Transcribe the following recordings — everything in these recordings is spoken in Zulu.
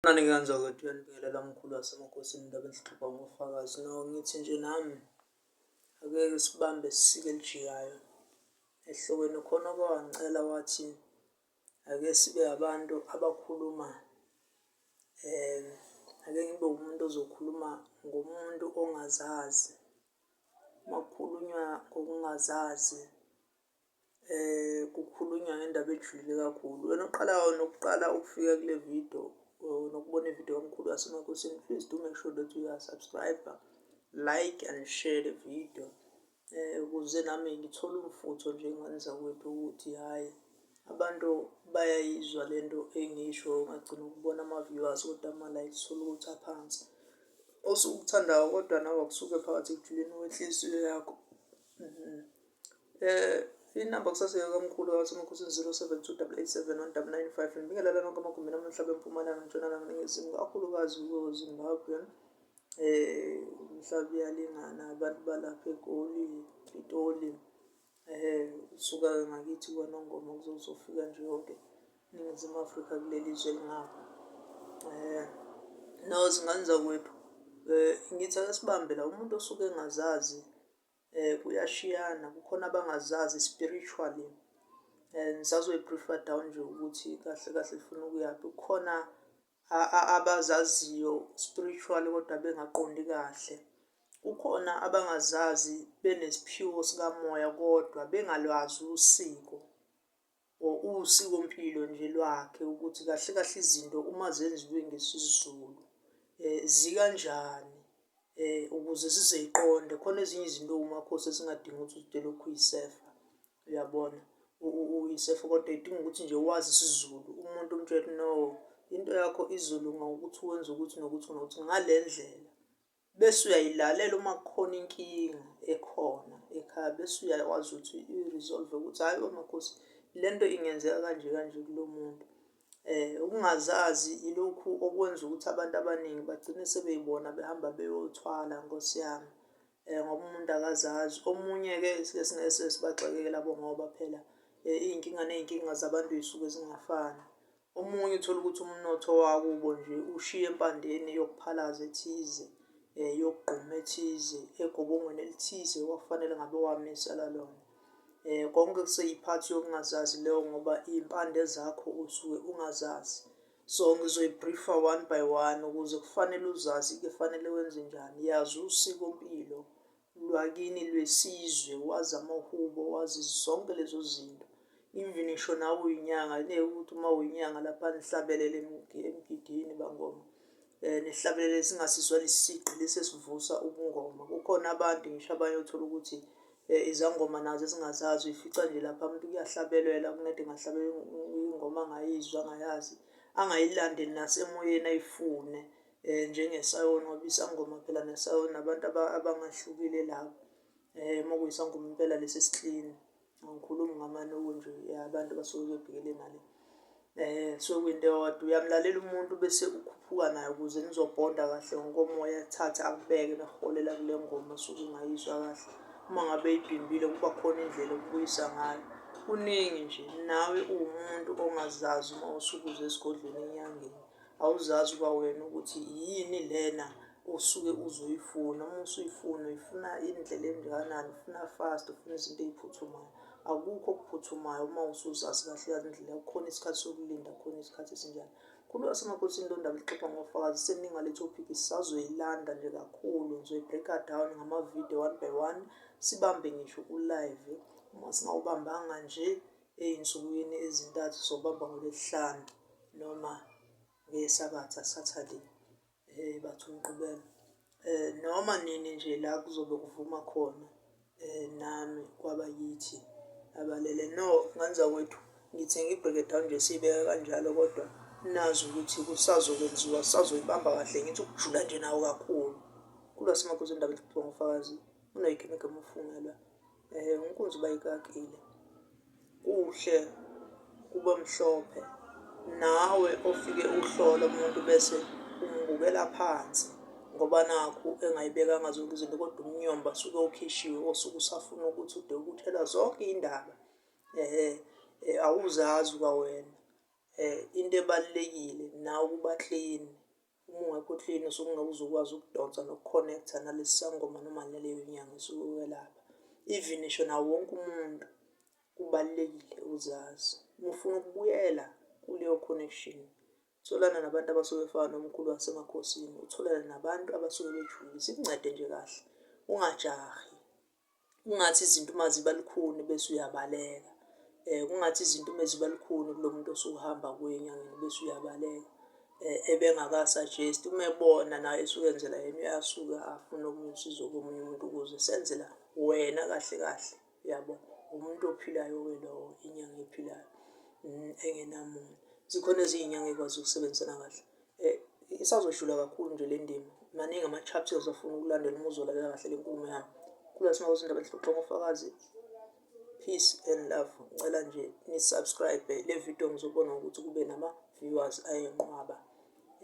Unanike kanjani ukuthi uyanibingelela mkhulu wasemakhosini indaba enhlupha ngofakazi no ngithi nje nami akeke sibambe sisike elijiyayo ehlokweni khona okwangicela wathi ake sibe abantu abakhuluma um ake ngibe umuntu ozokhuluma ngomuntu ongazazi uma kukhulunywa ngokungazazi Kukhulunywa ngendaba ejulile kakhulu. Wena oqala nokuqala ukufika kule video nokubona ividiyo kaMkhulu waseMakhosini, please do make sure that you are subscriber, like and share the video ukuze nami ngithole umfutho nje enganizakwethu ukuthi hhayi abantu bayayizwa le nto engiyisho ungagcina ukubona ama-viewers kodwa ama-likes uthole ukuthi aphansi. Osuke ukuthandayo kodwa nawe akusuke phakathi ekujuleni kwenhliziyo yakho. Eh inamba kusasa yakamkhulu kawathi umakhosi 0728871995 ngibingelela lonke amagumbini amhlaba empumalanga ntshonalanga ningezimu kakhulukazi kuyo Zimbabwe eh umhlaba uyalingana abantu balapha egoli pitoli eh usuka ngakithi kwanongoma kuzozofika nje yonke ningezimu afrika kuleli zwe lingapha eh nawo zingane zakwethu um ngithi akasibambe la umuntu osuke engazazi eh kuyashiyana kukhona abangazazi spiritually eh ngisazoyi briefer down nje ukuthi kahle kahle ifuna ukuyaphi kukhona abazaziyo spiritually kodwa bengaqondi kahle kukhona abangazazi benesiphiwo sikamoya kodwa bengalwazi usiko Usikompilo nje lwakhe ukuthi kahle kahle izinto uma zenziwe ngesiZulu zikanjani ukuze sizoyiqonde. Khona ezinye izinto ewuMakhosi ezingadingi ukuthi ude ulokhu uyisefa, uyabona? Uyisefa kodwa idinga ukuthi nje wazi isiZulu, umuntu umtshele ukuthi no into yakho izolunga ngokuthi wenze ukuthi nokuthi nokuthi ngale ndlela. Bese uyayilalela uma kukhona inkinga ekhona ekhaya bese uyakwazi ukuthi i-resolve ukuthi hhayi omakhosi le nto ingenzeka kanje kanje kulo muntu. Um ukungazazi ilokhu okwenza ukuthi abantu abaningi bagcine sebeyibona behamba beyothwala nkosi yami. Um ngoba umuntu akazazi omunye-ke sike singese sibagxeke-ke labo ngoba phela iy'nkinga ney'nkinga zabantu zisuke zingafani. Omunye uthola ukuthi umnotho wakubo nje ushiye empandeni yokuphalaza ethize, eh, yokugquma ethize, egobongweni elithize wafanele ngabe wamisa lalona. Eh, konke kuseyiphathi yokungazazi leyo ngoba iy'mpande zakho usuke ungazazi. So ngizoyibriefa one by one ukuze kufanele uzazi kufanele wenze njani. Yazi usikompilo lwakini lwesizwe wazi amahubo wazi zonke lezo zinto even ngisho nawe uyinyanga ngeke ukuthi uma uyinyanga lapha nihlabelele emgidini bangoma um nihlabelele singasizwa lesisigqi lesi esivusa ubungoma kukhona abantu ngisho abanye othola ukuthi um izangoma nazo ezingazazi uyifica nje lapha umuntu kuyahlabelelwa kunede ngahlabela ingoma angayizwa angayazi angayilandeli nasemoyeni ayifune um njengesayoni ngoba isangoma phela nesayoni abantu abangahlukile labo um uma kuyisangoma impela lesi esiklini angikhulumi ngamanoku nje abantu abasuke bebhekele nale um so kwinto eyodwa uyamlalela umuntu bese ukhuphuka naye ukuze nizobhonda kahle ngokomoya thathe akubeke nakuholela kule ngoma suke ungayizwa kahle uma ngabe ibhimbile kuba khona indlela okubuyisa ngayo kuningi nje nawe uwumuntu ongazazi uma usukuze esigodlweni enyangeni Awuzazi kwawena ukuthi yini lena osuke uzoyifuna uma usuyifuna uyifuna indlela engakanani ufuna fast ufuna izinto ey'phuthumayo akukho okuphuthumayo uma usuzazi kahle kahle indlela kukhona isikhathi sokulinda khona isikhathi esinjani khulu wasemakosini lo ndaba lixoxa ngofakazi seninga le topic sisazoyilanda nje kakhulu ngizoyibreaka down ngamavidiyo one by one sibambe ngisho ku-live uma singawubambanga nje eyinsukwini ezintathu zobamba ngolwesihlanu noma ngesabatha saturday eh bathi umqubelo eh noma nini nje la kuzobe kuvuma khona eh nami kwaba yithi abalele no nganza kwethu ngithi ngibheke down nje sibeka kanjalo kodwa nazi ukuthi kusazokwenziwa sazoyibamba kahle ngithi ukujula nje nawo kakhulu kulwasemagozini indaba eziphuma ngofakazi unoyikemeke mufungelwa Inkunzi uba ikakile kuhle kube mhlophe, nawe ofike uhlole umuntu bese umbukela phansi ngoba nakhu engayibekanga zonke izinto kodwa umnyomba suke ukhishiwe osuke usafuna ukuthi ude ukuthelwa zonke iy'ndaba awuzazi kwawena. Into ebalulekile nawe ukuba clean. Uma ungekho clean sokungabe uzokwazi ukudonsa nokuconnecta nalesi sangoma noma naleyo nyanga esuke ukwelapha. Even ngisho nawo wonke umuntu kubalulekile uzazi. Uma ufuna ukubuyela kuleyo connection, tholana nabantu abasuke befana nomkhulu wasemakhosini, utholane nabantu abasuke bejulile. Sikuncede nje kahle, ungajahi. kungathi izinto uma ziba lukhuni bese uyabaleka um kungathi izinto uma ziba lukhuni kulo muntu osuhamba kuye enyangeni bese uyabaleka um ebengakasajesti uma ebona naye esukenzela yena uyasuke afune omunye usizo komunye umuntu ukuze senzela wena kahle kahle yabo umuntu ophilayo-ke lowo inyanga ephilayo mm, engenamuntu zikhona ezinye inyanga ekwazi ukusebenzisana kahle Eh, isazoshula kakhulu nje le ndima. Maningi ama-chapters afuna ukulandela uma uzolalela kahle le nkulumo yami. Kula sima kwezindaba lihluxwa ngofakazi. Peace and love. Ngicela nje nisubscribe le video ngizobona ukuthi kube nama-viewers ayenqwaba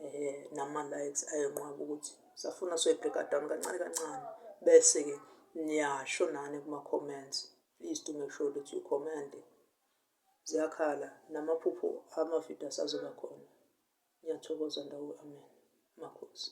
eh nama-likes ayenqwaba ukuthi safuna soyibheka down kancane kancane bese-ke niyasho nani kuma-comments please do make sure that you comment Ziyakhala namaphupho amavidiyo asazoba khona. Ngiyathokoza ndawo amen. Makhosi.